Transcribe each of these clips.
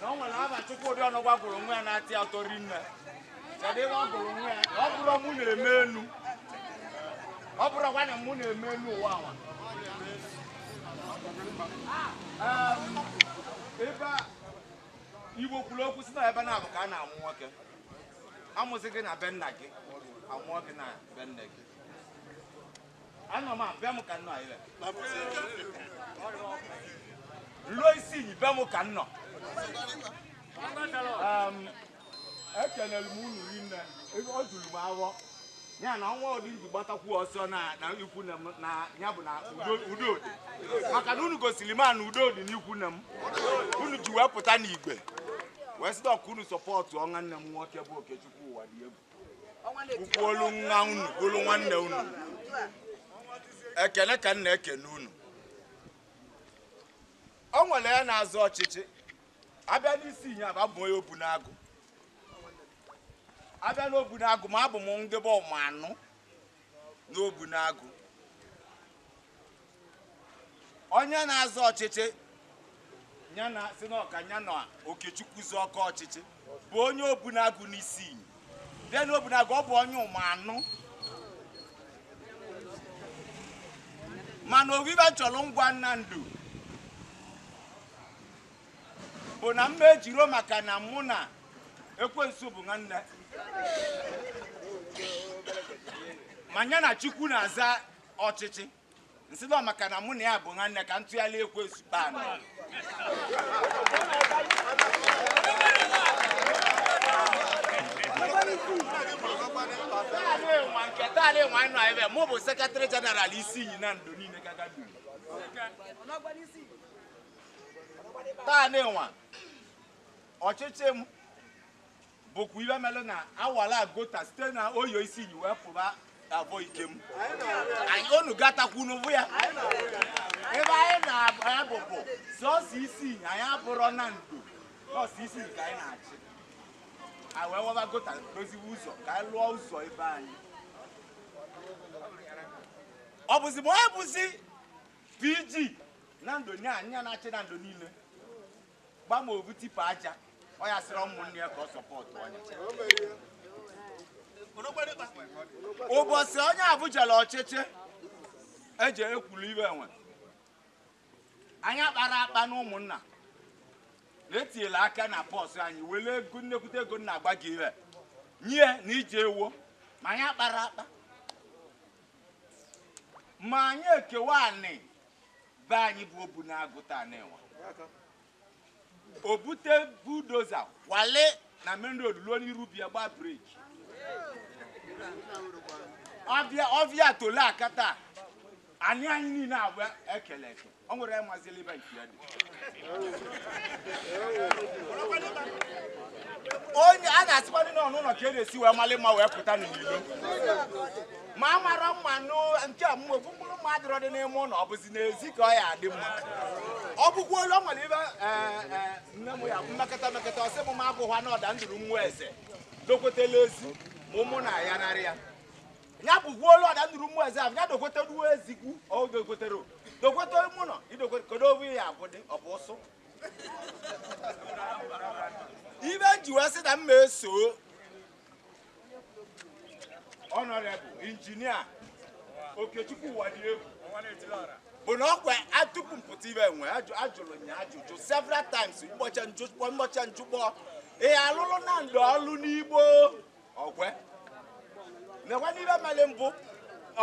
na o nwere aha Chukwudi Ọnụgwa gụrụ nwa ya na-atọ ya ụtọ rinne kedu ihe ọ gụrụ nwa ya ọ bụrọ mụ na-eme enu ọ bụrụkwa na mụ na-eme enu ụwa awa ebe a igbo kwuru okwu si na ebe naabọ ka a na-amụ nwoke amụsị gị na be nna gị amụọ gị na be nne gị Anọ m abịa m ka nnọ anyị ruo Isinyi be m ka nnọ ekelere m unu rinne o juru m avọ ya na ọnwa ụdị nji gbatakwu ọsọ na na ikwu nne m na ya bụ na udo udo dị maka na unu gosiri m a na udo dị n'ikwu nne m unu ji wee pụta n'igwe wee sị nọ ka unu sọpọtụọ nwanne m nwoke bụ okechukwu Ụwadịegwu ukwuolu nwa unu bụrụ nwanne unu ekene ka m na-ekene unu o nwere ya na-azọ ọchịchị abịa n'Isinyi abụ abụ onye Obunagụ abịa n'Obunagụ ma abụ m ndị bụ Ụmụanụ n'Obunagụ onye na-azọ ọchịchị ya nsị nọ ka ya na okechukwu zọọkọ ọchịchị bụ onye obunagu n'Isinyi bịa na obunagu ọ bụ onye Ụmụanụ mana ọ bụ ive chọrọ ngwa Nando bụ na mma ejirọ maka na mụ na ekwensu bụ nwanne ma ya na chukwu na-azọ ọchịchị nsị nọ maka na mụ na ya bụ nwanne ka ntụgharị ekwe zukpa anọ taale nwa nọ ebe mụ bụ sekretarị jeneral Isinyi Nando niile gaga duru taale nwa ọchịchị m bụkwa ive mere na awara gota site na Oye Isinyi wee pụba Avọ Ikem anyị unu gatakwu unu avụ ya ebe anyị na-abụ bụ sọsọ Isinyi abụrọ Nando sọsọ Isinyi ka anyị na-achị anyị wee waba gota doziwe ụzọ ka anyị lụọ ụzọ be anyị ọ bụzi ma ọ bụzi PG Nando nye anyị na-achị Nando niile gba ma ovu tipa aja ọ ya sịrị ụmụnne ya ka ọ sọpọtụ onye ụbọchị onye avụ jere ọchịchị eji ekwulu ive enwe anyị kpara akpa na ụmụnna na etinyela aka na purse anyị were ego nne kwute ego nna agba gị ire nye na ije ewo ma anyị kpara akpa ma anyị ekewa anị be anyị bụ obu na-agụ taa na enwa o bute bulldozer kwale na main road ruo n'iru bịa gbaa brake ọ bịa tole aka taa anị anyị niile agwa e kele eke ọ nwere mazili ibe nke ya dị onye a na-asịkwa ndị nọ n'ụlọ ka e na-esi wee malị mma wee pụta n'ilo ma a mara mma nke ọmụmụ ofu mkpụrụ mma adịrọ dị n'ime ụlọ ọ bụzi n'ezi ka ọ ya adị mma ọ bụkwa olu ọ nwere ibe e, e, nne m ya mmekọta mmekọta ọ sị m ma abụghwa na ọda ndụrụ nwa eze dokwetela ezi ma ụmụnna ya narị ya ya bụkwa olu ọda ndụrụ nwa eze ahụ ya dokweta ruo ezikwu ọ dokwetere dokweta ụmụ nọ idokweta kedu ovu ya abụ dị ọ bụ ụsụ ibe m ji wee sị na m ma esoo Honourable Engineer Okechukwu Uwadiegwu bụ na ọkwa tupu m pụta ibe enwe ajụrụ ya ajụjụ several times mgbọcha njụkpọ ị alụlụ Nando ọlụ n'Igbo o kwe m nkwa n'ibe meli mbụ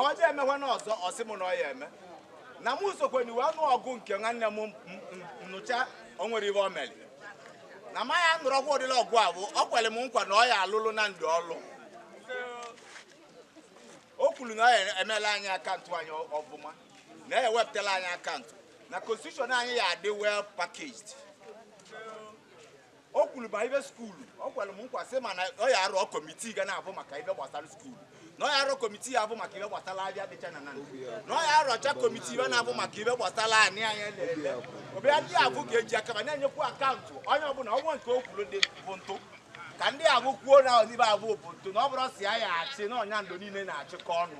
ọdị emekwa na ọzọ ọ sị m na ọ ya eme na m sokwe na iwe ọnụ ọgụ nke nwanne m nụcha o nwere ibe o mere na ma ya nụrụ ọkwa ụdịrị ọgụ abụ ọ kwere m nkwa na ọ ya alụlụ Nando ọlụ o kwuru na ọ ya emela anyị account anyị ọbụma na ya ewepụtala anyị account na constitution anyị ya adị well packaged o kwuru ma ibe school ọ kwere m nkwa sị m na ọ ya arọ committee ga na-abụ maka ibe gbasara school na ọ ya arọ committee ya bụ maka ibe gbasara abịa dịcha na Nando na ọ ya arọcha committee ibe na-abụ maka ibe gbasara anị anya na-ele ọbịa ndị abụ ga-eji aka ba na-enyekwu account onye ọbụla ọnwa nke o kwuru dị bụ ntụ ka ndị abụ kwuo na ọdịbe abụ bụ ntụ na ọ bụrọ sọ ya ya achị na ọ Nando niile na-achịkọ ọnụ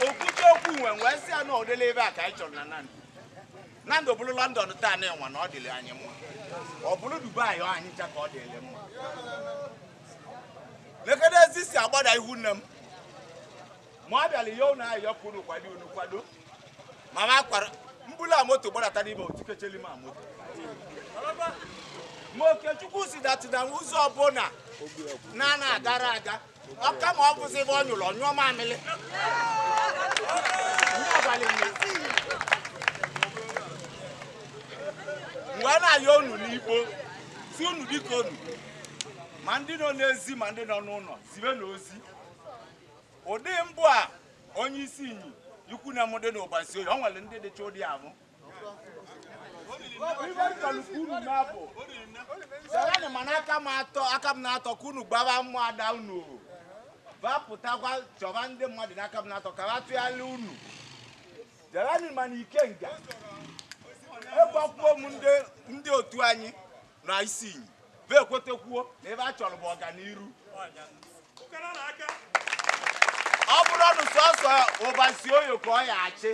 o kwucha okwu nwe wee sị ya na ụdịla ibe a ka anyị chọrọ na Nan Nando bụrụ London taa na enwa na ọ dịrị anyị mma ọ bụrụ Dubai ọ anyị ncha ka ọ dịrị mma lekene ezi si agbada ihu nne m ma ọ bịara ihe ụnụ ahụ yọpụ unu kwado unu kwado ma ma kwara mbula moto gbadata n'ime otu kecheli ma moto ma Okechukwu si data na ụzọ ọbụla na na-agara aga ọka ma ọ bụzi ebe ọ nyụrụ ọ nyụọ mamịrị mgbe a na-ayọ unu n'Igbo sị unu biko unu ma ndị nọ n'ezi ma ndị nọ n'ụlọ zibe na ozi ụdị mbụ a onye Isinyi i kwu na mụ dị na Ụbasioye ọ nwere ndị dịcha ụdị ahụ sereni mana aka m atọ Akamanatọ ka unu gbaba mmụ ada unu bapụtakwa chọba ndị mmadụ n'Akamanatọ ka ha tụgharịa unu sereni mana Ikenga agbakwuo m ndị otu anyị na Isinyi ba ekwetekwuo na ebe a chọrọ bụ ọganiru ọ bụrụ ọnụ sọsọ Ụbasioye ka ọ ya achị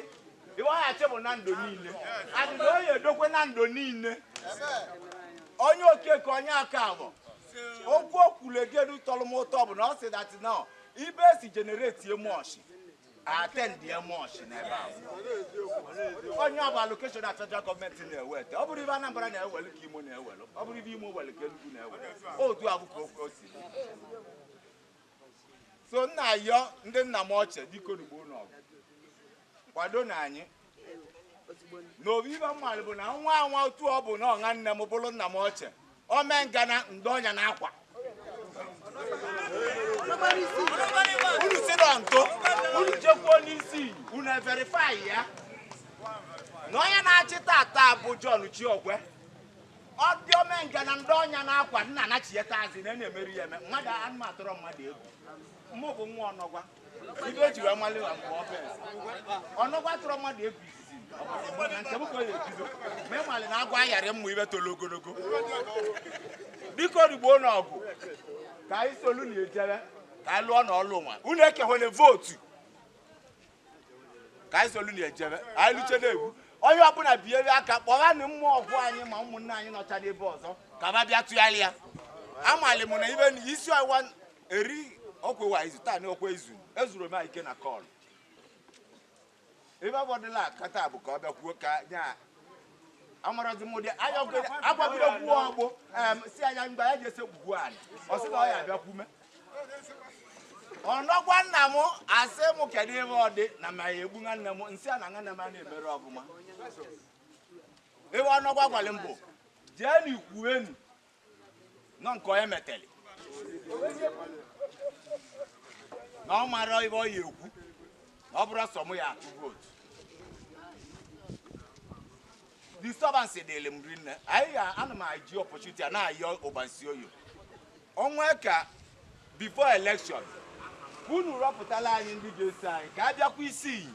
ibe ọ ya achị bụ Nando niile na ọ ya edokwe Nando niile onye Okeke onye Okafọ okwu o kwulegedu tọrọ m ụtọ bụ na ọ sị that na ibe e si generate emoshi attend ya mọchị n'ebe ahụ onye ọbụla allocation na federal gọọmenti na-eweta ọ bụrụ ibe Anambra na-ewelu ka Imo na-ewelu ọ bụrụ ibe Imo welu ka Enugu na-ewelu otu a bụ ka ofe osi so na-ayọ ndị nna m ochie biko nugbo n'ọgụ kwado na anyị n'obi ibe m malụ bụ na nwa nwa otu ọ bụ na nna nne m bụrụ nna m ochie Omengana ndị ọnya na akwa unu si na ntụ unu jekwuo n'isi unu verify ya na onye na-achị tata bụ John Chiogwe ọ dị Omengana ndị ọnya na akwa nna anachieta azị na na-emeri ya eme mmadụ anụmatụrụ mmadụ egwu mụ bụ nwa ọnọgwa ibe eji wee mali na mgbe ọbụ ọnọgwa tụrụ mmadụ egwu izizi na nke m ka ọ ya ebido ma ị mali na agwa ayarị mmụ ibe tolo ogologo biko rigbo na ọgụ ka anyị solu na ejere ka anyị lụọ na ọlụ nwa unu ekewele vootu ka anyị solu na ejere anyị luche na egwu onye ọbụla biere aka kpọgha na mmụọ ọgwụ anyị ma ụmụnne anyị nọcha n'ebe ọzọ ka ba bịa tụgharịa amali m na ibe na isi ọwa eri ọkwa wa izu taa n'ọkwa izu ezuru m ike na call ebe abọdịla akata bụ ka ọ bịa kwuo ka nya amarazi m ụdị anya agwagide kwuo ọgbụ si anya mgbe ya ji ese gwugwu anyị ọ sị na ọ ya abịa kwume ọnọgwa nna m asị m kedu ibe ọ dị na ma ya egbu nwanne m nsị a na nwanne m a na-emere ọvụma ibe ọnọgwa gwara m bụ jee n'ikwu enu nọ nke onye meteli na ọ mara ebe ọ ya ekwu na ọ bụrụ sọ mụ ya atụ vootu disturbance dịrị m rinne anyị ana m eji opportunity a na-ayọ Ụbasioye ọnwa ka before election unu rọpụtala anyị ndị ga-eso anyị ka a bịakwa Isinyi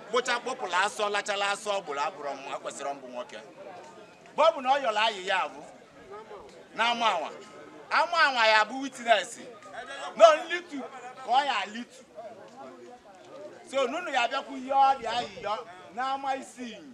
gbụcha kpọpụla asọ lachala asọ ọ gburu abụrụ mma kwesịrị mbụ nwoke mgbe ọ bụ na ọ yọrọ ayị ya bụ na ama anwa ama anwa ya bụ witness na nlitu ka ọ ya alitu so nunu ya bịakwu ihe ọ dị ayịyọ na ama isi iyi